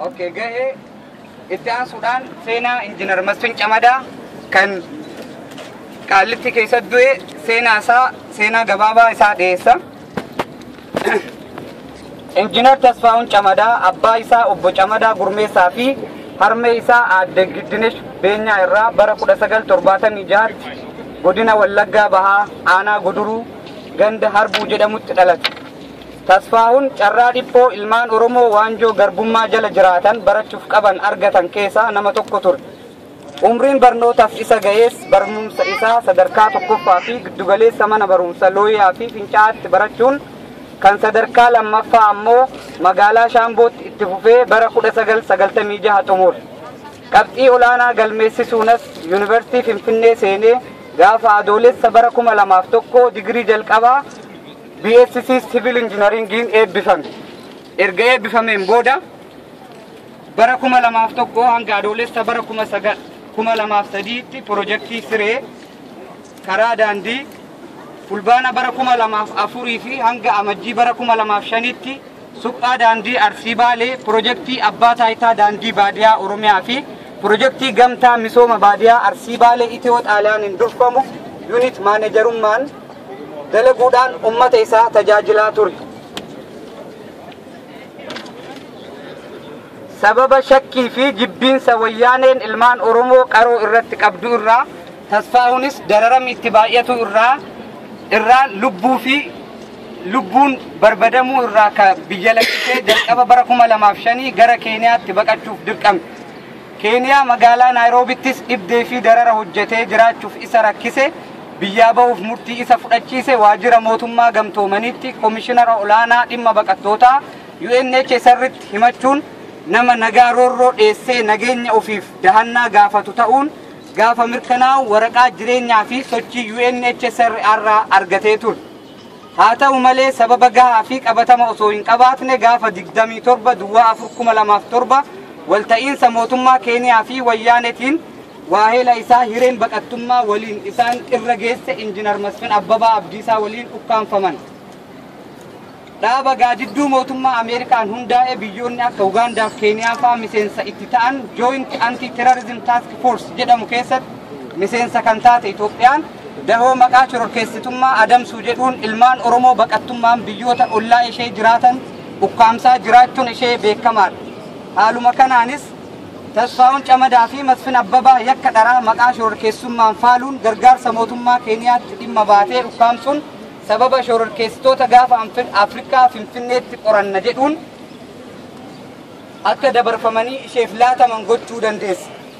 Okay, gahee itti aansuudhaan seenaa injiinar Masfin Camadaa kan qaallitti keessatti du'e seenaa isaa seenaa gabaabaa isaa dhiyeessa. Injiinar Tasfaa'uun Camadaa abbaa isaa obbo Camadaa Gurmeessaa fi harmee isaa aadde Giddinesh Beenyaa irraa bara 1976tti godina Wallaggaa Bahaa aanaa Guduruu ganda Harbuu jedhamutti dhalate. Tasfaa'uun carraa dhiphoo ilmaan Oromoo waanjoo garbummaa jala jiraatan barachuuf qaban argatan keessaa nama tokko ture. Umriin barnootaaf isa gahees barmumsa isaa sadarkaa tokkoffaa fi giddugaleessa mana barumsa Looyaa fi Fincaa'aatti barachuun kan sadarkaa lammaffaa ammoo magaalaa Shaambootti itti fufee bara 1996 xumure. Qabxii olaanaa galmeessisuunas Yuunivarsiitii Finfinnee seenee gaafa Adoolessa bara 2001 digirii jalqabaa BSc Civil Engineeringiin eebbifame. Erga eebbifameen booda Bara 2001 hanga Adoolessa bara 19 2003tti pirojektii Siree karaa daandii Fulbaana bara 2004 fi hanga Amajjii bara 2005tti suphaa daandii Arsii Baalee pirojektii Abbaa Taayitaa Daandii Baadiyaa Oromiyaa fi pirojektii Gamtaa Misooma Baadiyaa Arsii Baalee Itiyoo Xaaliyaaniin durfamu yuunit maanejarummaan dalaguudhaan uummata isaa tajaajilaa ture. sababa shakkii fi jibbiinsa wayyaaneen ilmaan Oromoo qaroo irratti qabdu irraa tasfaahunis dararamni itti baay'atu irraa irraa lubbuu fi lubbuun barbadamuu irraa ka biyya lakkisee jalqaba bara kuma lamaaf shanii gara Keeniyaatti baqachuuf dirqame. Keeniyaa magaalaa Naayroobittis dhibdee fi darara hojjetee jiraachuuf isa rakkise biyyaa bahuuf murtii isa fudhachiise waajjira mootummaa gamtoomaniitti komishinara olaanaa dhimma baqattootaa UNHCR'tti himachuun nama nagaa roorroo dheessee nageenya ofiif dahannaa gaafatu ta'uun gaafa mirkanaa'u waraqaa jireenyaa fi sochii UNHCR irraa argatee ture. Haa ta'u malee sababa gahaa fi qabatama osoo hin qabaatne gaafa 27 Duwwaa 4 2007 walta'iinsa mootummaa Keeniyaa fi Wayyaanetiin waaheela isaa hireen baqattummaa waliin isaan irra geesse Injinar Masfin Abbabaa Abdiisaa waliin ukkaamfaman. Dhaaba gaadidduu mootummaa Ameerikaan hundaa'e biyyoonni akka Ugaandaa fi Keeniyaa fa'aa miseensa itti ta'an Joint Anti-Terrorism Task Force jedhamu keessatti miseensa kan taate Itoophiyaan Dahoo maqaa shororkeessitummaa adamsuu jedhuun ilmaan Oromoo baqattummaan biyyoota ollaa ishee jiraatan ukkaamsaa jiraachuun ishee beekamaadha. Haaluma kanaanis Tasfaahun Camadaa fi Masfin Abbabaa yakka dharaa maqaa shororkeessummaan faaluun gargaarsa mootummaa Keeniyaatti dhimma baatee ukkaamsuun sababa shororkeessitoota gaafa Afrikaa Finfinneetti qoranna jedhuun akka dabarfamanii isheef laataman gochuu dandeessa.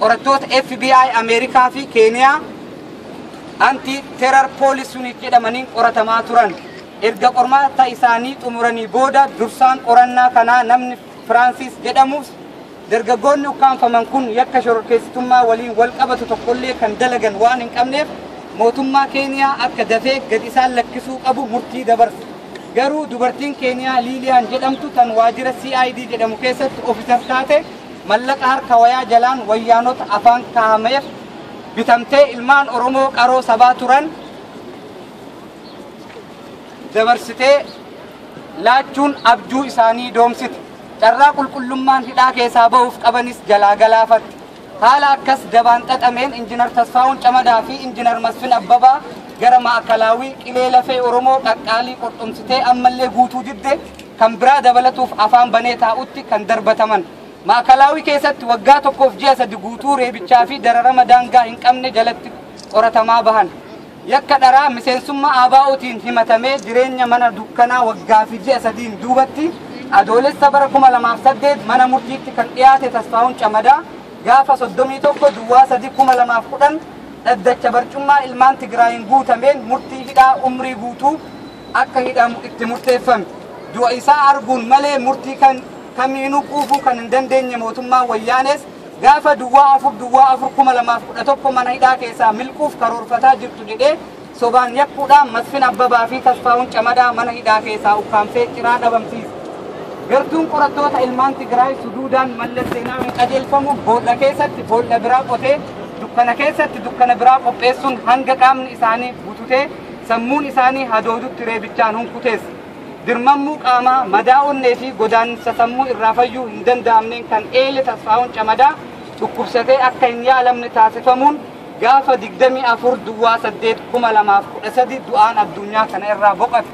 Qorattoota FBI Ameerikaa fi Keeniyaa anti terar poolis unit jedhamaniin qoratamaa turan. Erga qormaata isaanii xumuranii booda dursaan qorannaa kanaa namni Firaansis jedhamus dargaggoonni ukkaamfaman kun yakka shororkeessitummaa waliin wal qabatu tokkollee kan dalagan waan hin qabneef mootummaa Keeniyaa akka dafee gad isaan lakkisuu qabu murtii dabarse. Garuu dubartiin Keeniyaa Liiliyaan jedhamtu tan waajjira CID jedhamu keessatti ofiisar taate Mallaqa harka wayaa jalaan wayyaanota afaan kaahameef bitamtee ilmaan Oromoo qaroo sabaa turan dabarsitee laachuun abjuu isaanii doomsite. Carraa qulqullummaan hidhaa keessaa ba'uuf qabanis jalaa galaafatte. Haala akkas dabaan xaxameen Injinar Tasfaawun Camadaa fi Injinar Masfin Abbabaa gara Maakalaawii qilee lafee Oromoo qaqqaalii qorxomsitee ammallee guutuu didde kan biraa dabalatuuf afaan banee taa'utti kan darbataman. Maakalaawii keessatti waggaa tokkoof ji'a sadi guutuu reebichaa fi dararama daangaa hin qabne jalatti qoratamaa bahan. Yakka dharaa miseensummaa ABOtiin himatamee jireenya mana dukkanaa waggaa fi ji'a sadiin duubatti Adoolessa bara 2008 mana murtiitti kan dhiyaate Tasfaahun Camadaa gaafa 31 Duwwaa 3 2010 dhaddacha barcummaa ilmaan Tigraayiin guutameen murtii hidhaa umrii guutuu akka hidhamu itti murteeffame. Du'a isaa arguun malee murtii kan kamiinuu quufuu kan hin dandeenye mootummaan Wayyaanees gaafa duwwaa afur duwwaa afur kuma lamaaf kudha tokko mana hidhaa keessaa milquuf karoorfataa jirtu jedhee sobaan yakkuudhaan Masfin Abbabaa fi Tasfaa'uun Camadaa mana hidhaa keessaa ukkaamsee ciraa dhabamsiise. Gartuun qorattoota ilmaan Tigraay suduudaan mallas seenaawiin qajeelfamu boolla keessatti boolla biraa qotee dukkana keessatti dukkana biraa qopheessuun hanga qaamni isaanii bututee sammuun isaanii hadoodutti reebichaan hunkutees dirmammuu qaamaa madaa onnee fi godaansa sammuu irraa fayyuu hin danda'amneen kan eele tasfaa'uun camadaa dhukkubsatee akka hin yaalamne taasifamuun gaafa 24 duwwaa 8 2013 du'aan addunyaa kana irraa boqate.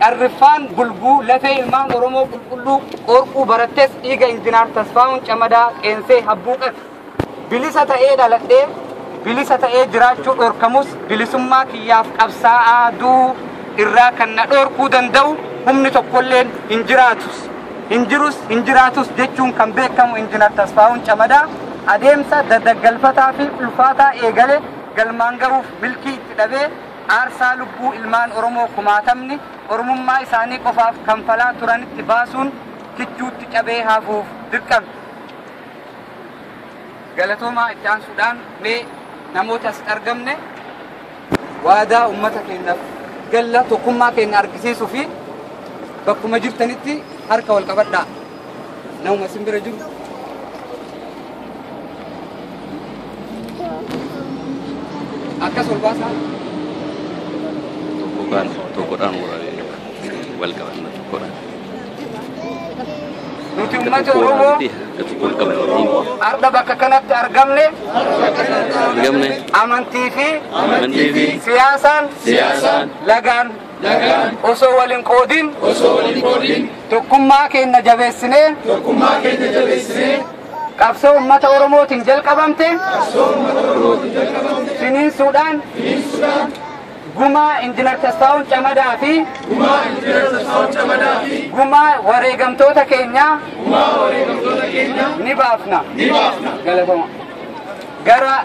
Qarriffaan bulguu lafee ilmaan Oromoo qulqulluu qorquu barattes dhiiga injinaar tasfaa'uun camadaa qeensee habbuuqate. Bilisa ta'ee dhaladhee bilisa ta'ee jiraachuu dhorkamus bilisummaa kiyyaaf qabsaa'aa du'uu irraa kan na dhorkuu danda'u humni tokkolleen hin jiraatus hin jirus hin jiraatus jechuun kan beekamu Injinar Tasfaa'uun Camadaa adeemsa dadaggalfataa fi ulfaataa eegale galmaan gahuuf milkii itti dhabee aarsaa lubbuu ilmaan Oromoo kumaatamni Oromummaa isaanii qofaaf kanfalaa turanitti baasuun kichuutti cabee hafuuf dirqame. Galatoomaa itti aansuudhaan mee namoota asitti argamne waadaa uummata keenyaaf galla tokkummaa keenya argisiisuu fi bakkuma jirtanitti harka wal qabadhaa. Namuma isin bira jiru. Akkas wal baasaa. tokko kaan tokkodhaan wal qabanna tokkodhaan. Nuti uummata Oromoo har'a bakka kanatti argamne argamne amantii fi amantii fi siyaasaan siyaasaan lagaan lagaan osoo wal hin qoodin osoo wal hin qoodin tokkummaa keenya jabeessinee tokkummaa keenya jabeessinee qabsoo uummata Oromootiin jalqabamte qabsoo uummata Oromootiin jalqabamte finiinsuudhaan finiinsuudhaan Gumaa Injinar Tasfaawun Camadaa fi Gumaa Injinar Tasfaawun Camadaa fi Gumaa wareegamtoota keenyaa Gumaa wareegamtoota keenyaa ni baafna ni baafna galatoma gara